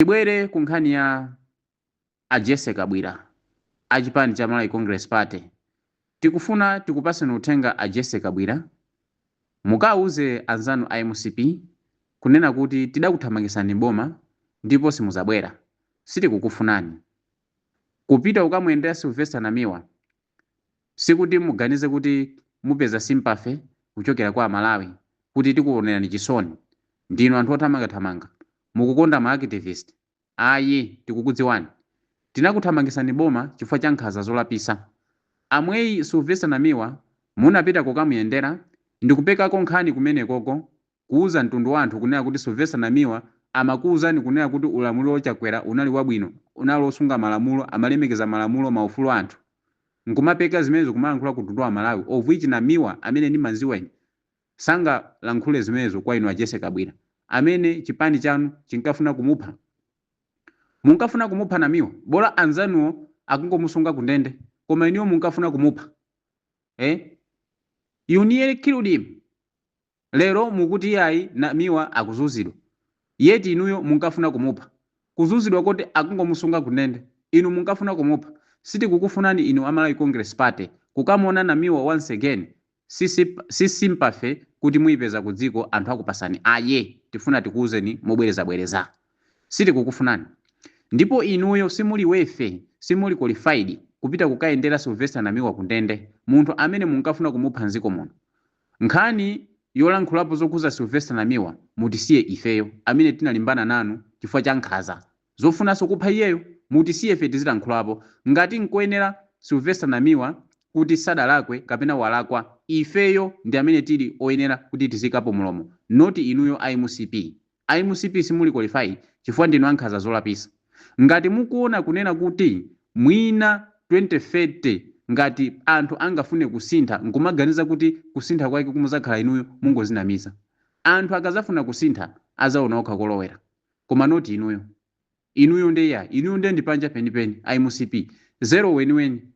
Tibwere ku nkhani ya a Jessy Kabwira a chipani cha Malawi Congress Party. Tikufuna tikupaseni uthenga a Jessy Kabwira, mukauze anzanu a mcp kunena kuti tidakuthamangisani m'boma ndipo simuzabwera. Sitikukufunani. Kupita kukamuyendera Sylvester Namiwa sikuti muganize kuti mupeza sympathy kuchokera kwa Amalawi kuti tikuonerani chisoni. Ndinu anthu othamangathamanga. Mukukonda ma activist? Ayi, tikukudziwani. Tinakuthamangisani m'boma chifukwa cha nkhaza zolapisa. Amweyi Sylvester Namiwa munapita kukamuyendera ndikupekako nkhani kumenekoko kuuza mtundu wa anthu kunena kuti Sylvester Namiwa amakuuzani kunena kuti ulamuliro wo Chakwera unali wabwino, unali osunga malamulo, amalemekeza malamulo, maufulu a anthu. Nkumapeka zimenezo kumalankhula ku mtundu wa Amalawi of which Namiwa amene ndimanziwa ine. Sangalankhule zimenezo kwa inu a Jessy Kabwira amene chipani chanu chinkafuna kumupha. Munkafuna kumupha Namiwa bola anzanuwo akungomusunga ku ndende koma inuyo munkafuna kumupha eh? You nearly killed him. Lero mukuti iyayi Namiwa akuzunzidwa yet inuyo munkafuna kumupha. Kuzunzidwa koti akungomusunga ku ndende inu munkafuna kumupha. Sitikukufunani inu a Malawi Congress Party kukamuona Namiwa once again si sympathy kuti muipeza ku dziko anthu akupasani ayi tifuna tikuuzeni mobwereza bwereza sitikukufunani ndipo inuyo simuli worthy simuli qualified kupita kukayendera Sylvester Namiwa ku ndende munthu amene munkafuna kumupha mziko muno nkhani yolankhulapo zokuza Sylvester Namiwa mutisiye ifeyo amene tinalimbana nanu chifukwa cha nkhaza Zofunanso kupha iyeyo? Mutisiye ife tizilankhulapo. Ngati nkoyenera Sylvester Namiwa kuti sadalakwe kapena walakwa, ifeyo ndi amene tili oyenera kuti tiziikapo mlomo not inuyo a mcp. A mcp simuli qualified chifukwa ndinu ankhanza zolapisa. Ngati mukuona kunena kuti mwina 2030 ngati anthu angafune kusintha nkumaganiza kuti kusintha kwake kumuzakhala inuyo mungozinamiza. Anthu akazafuna kusintha azaona okha kolowera. koma not inuyo. inuyo nde yayi inuyo nde ndi panja penipeni a mcp zero weniweni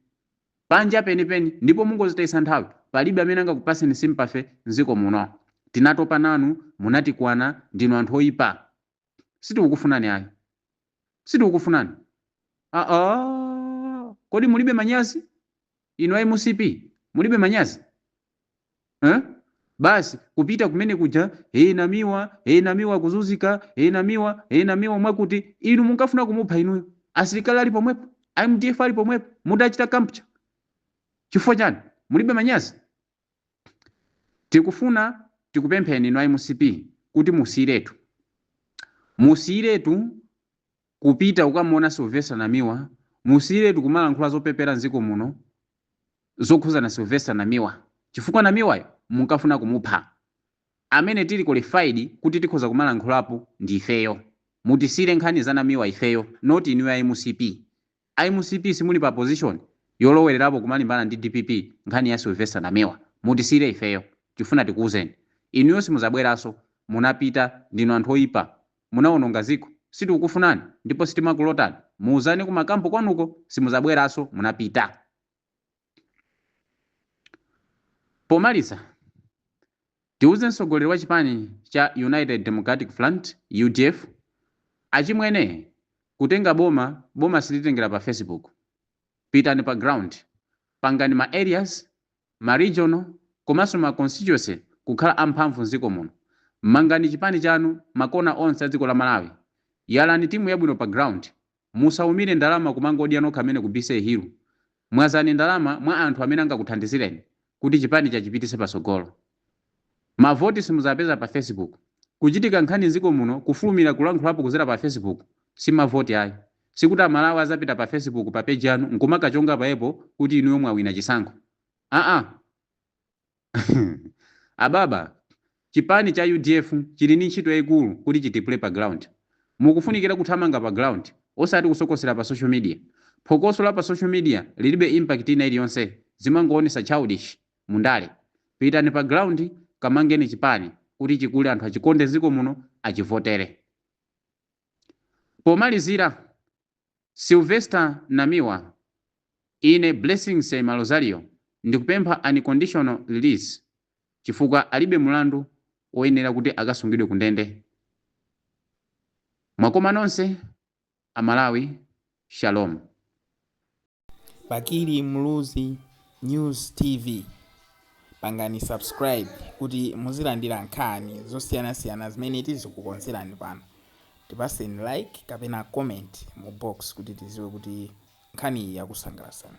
panja penipeni ndipo mungozitayisa nthawi palibe amene angakupaseni sympathy nziko muno tinatopa nanu munatikwana ndinu anthu oipa sitikukufunani ayi sitikukufunani aa kodi mulibe manyazi Inu a mcp mulibe manyazi eeh basi kupita kumene kuja ee Namiwa ee Namiwa akuzunzika ee Namiwa ee Namiwa mwakuti inu munkafuna kumupha inuyo asilikali ali pomwepo a mdf ali pomwepo mutachita capture chifukwa chani mulibe manyazi Tikufuna tikupempheni inu a mcp kuti musiyiretu. Musiyiretu kupita kukamuona Sylvester Namiwa, musiyiretu kumalankhula zopepera m'dziko muno zokhuzana Sylvester Namiwa chifukwa Namiwayo munkafuna kumupha. Amene tili qualified kuti tikhoza kumalankhulapo ndi ifeyo. Mutisiyire nkhani za Namiwa ifeyo not inuyo a mcp. A mcp simuli pa position yolowelerapo kumalimbana ndi dpp nkhani ya Sylvester Namiwa mutisiyire ifeyo tifuna tikuuzeni inuyo simuzabweraso munapita ndinu anthu oipa munawononga ziko sitikukufunani ndipo sitimakulotani muuzane ku ma camp kwanuko simuzabweraso munapita. Pomaliza, tiuze mtsogoleri wa chipani cha United Democratic Front, udf, achimwene kutenga boma boma silitengera pa facebook pitani pa ground pangani ma areas, ma regional komanso ma constituency kukhala amphamvu mziko muno. Mangani chipani chanu ma corner onse a dziko la Malawi. Yalani timu yabwino pa ground Musaumire ndalama kumangodya nokha amene ku BCA Hill. Mwazani ndalama mwa anthu amene angakuthandizireni kuti chipani chachipitise patsogolo. Ma voti simuzapeza pa Facebook. Kuchitika nkhani mziko muno kufulumira kulankhulapo kuzera pa Facebook si ma voti ayi. Sikuti amalawi azapita pa Facebook pa page yanu nkumakachonga paepo kuti inuyo mwawina chisankho. Aaa. Ababa, chipani cha udf chili ndi ntchito yaikulu kuti chitipule pa ground. Mukufunikira kuthamanga pa ground osati kusokosera pa social media. Phokoso la pa social media lilibe impact ina iliyonse, zimangoonesa childish mu ndale. Pitani pa ground kamangeni chipani kuti chikule anthu achikonde mziko muno achivotere. Pomalizira, Sylvester Namiwa Ine Blessings Malozario ndikupempha unconditional release chifukwa alibe mulandu woyenera kuti akasungidwe ku ndende. Mwakoma nonse a Malawi Shalom. Bakili Muluzi News TV pangani subscribe kuti muzilandira nkhani zosiyanasiyana zimene tizikukonzerani pano. Tipaseni like kapena comment mu box kuti tiziwe kuti nkhani iyi yakusangalatsani.